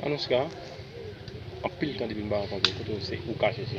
Manouska, anpil tan depi m pa rankontre w, kote w se ou kache se?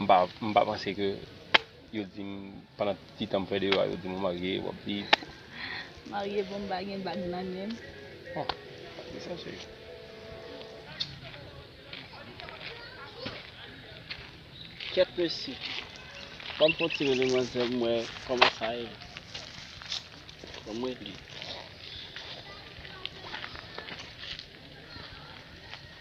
M pa panse ke yo dim pandan tout ti tan m fè deyo a yo dim ou marye, wap viv. Marye bon m pa gen bag nan men m. Oh ki sa se yo. Kyèt mesye. Banm fon ti rele manzè m wè kòman sa ye. Banm rele.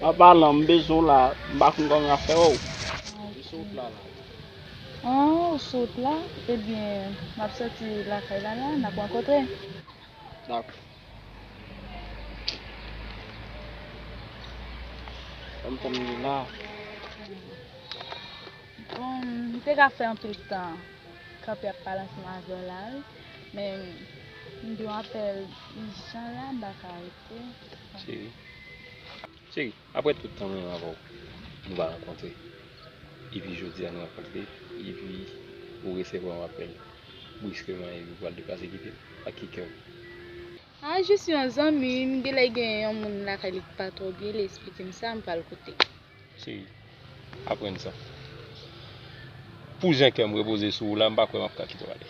Papa lan m bezwen w la m pa konn kòman yap fè wèw. Ou sou wout la la. An ou sou wout la ebyen map sòti lakay la la nap rankontre. Dakò. Banm tan m li la. Bon m te ka fè anpil tan kanpe ap pale ansanm avèw la wi men m gen yon apèl ijan la m pa ka reponn. Cheri Cheri Aprè tout tan mwen avè w Nou pa rankontre Epi jodi a nou rankontre Epi ou resevwa yon apèl Briskeman epi ou pral deplase kite m Ak ki kè ou? Ah jis yon zanmi M genlè gen yon moun lakay li k pa twò byen Li esplike m sa m pral koute. Se aprann sa. Pou jan kè m repoze sou ou la, m pa kwè m ap ka kite w ale.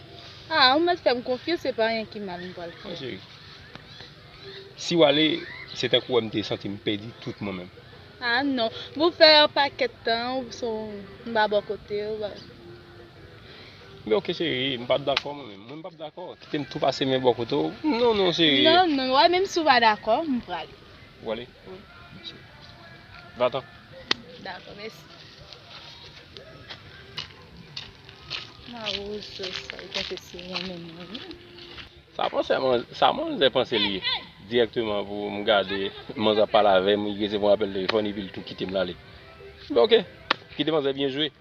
A, ou mèt fè m konfyans, se pa anyen ki mal m pral fè. Wi cheri. Si w ale, se tankou wè m te santi m pèdi tout mwen menm. A non. Bon, fè yon pakèt tan ou sou m pa bò kote ou. Men ok cheri, m pa dakò mwen menm. Mwen m pap dakò. Kite m tou pase men bò kote ou. Non, non cheri. Non, non. Wè menm si w pa dakò, m prale. Ou prale? Wi. Mèsi. Va tan. Dakò, mèsi. Ma wouz se sa li panse se mwen menm mwen ye. Sa panse man, sa manzè panse li ye. Direkteman pou m gade manzè ap pale avè m, li resevwa yon apèl telefòn epi li tou kite m l ale. M fè ok, kite manzè byen jwe.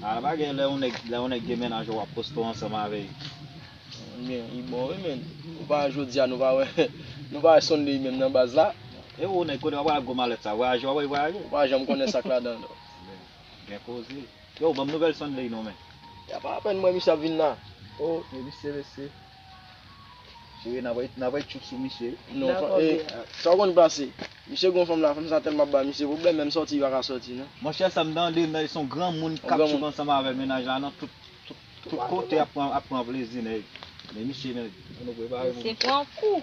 Ala bagay lè yon nèg lè yon nèg gen mennaj ou wap poste ansanm avè l. Men li bon wi menn. Ou pa wè jodia nou pa wè nou pa wè Sunday menm nan baz la. E ou nèg kote wap pral ak gwo malèt sa vwayaje wap wè li vwayaje. Ou pa janm konnen sak ladan l. Gen koze. Yow banm nouvèl Sunday non men. Yapa apèn m wè misye ap vin la. Oh. Mesi mesi. Eee na bay na bay tchouk sou misye wi. Nan konbyen an? Eee sa ou konn pase. Misye gon fanm la fanm sa tèlman ap bay misye pwoblèm menm sòti li pa ka sòti non. Monchè sa m tande nèg son granmoun k ap tchouk ansanm avè mennaj la nan tout tout kote ap pran plezi nèg. Men misye nèg. Misye pran kou.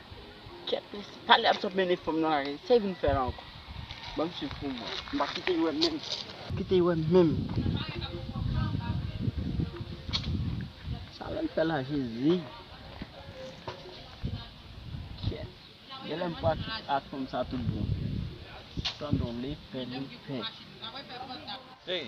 Kèt mesye, pale ap sot mennen fanm nan lari, sa e vin fè la ankò? Banm swiv poum wè, m pa kite yo wèm menm, m kite yo wèm menm. Sa lèl fè la jezi. Kèt, genlè m pral sot ak fanm sa tout bon. Tandon li fè li pè. Hey!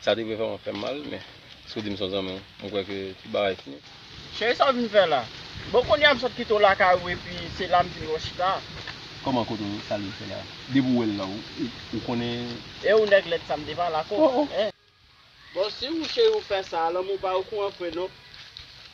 Sa te vle fè mwen fè mal men si w di m s on zanmi w m kwè ke tout bagay fini. Cheri sa w vin fè la? Bon kounye a m sot kite w lakay ou epi se la m vin wè w chita a. Kòman kote w sa li l fè la? Depi w wè l la ou konnen. E ou nèg lèd sa m te pale ak ou? Bon si w cheri w fè sa a lanmou pa okouran fre non.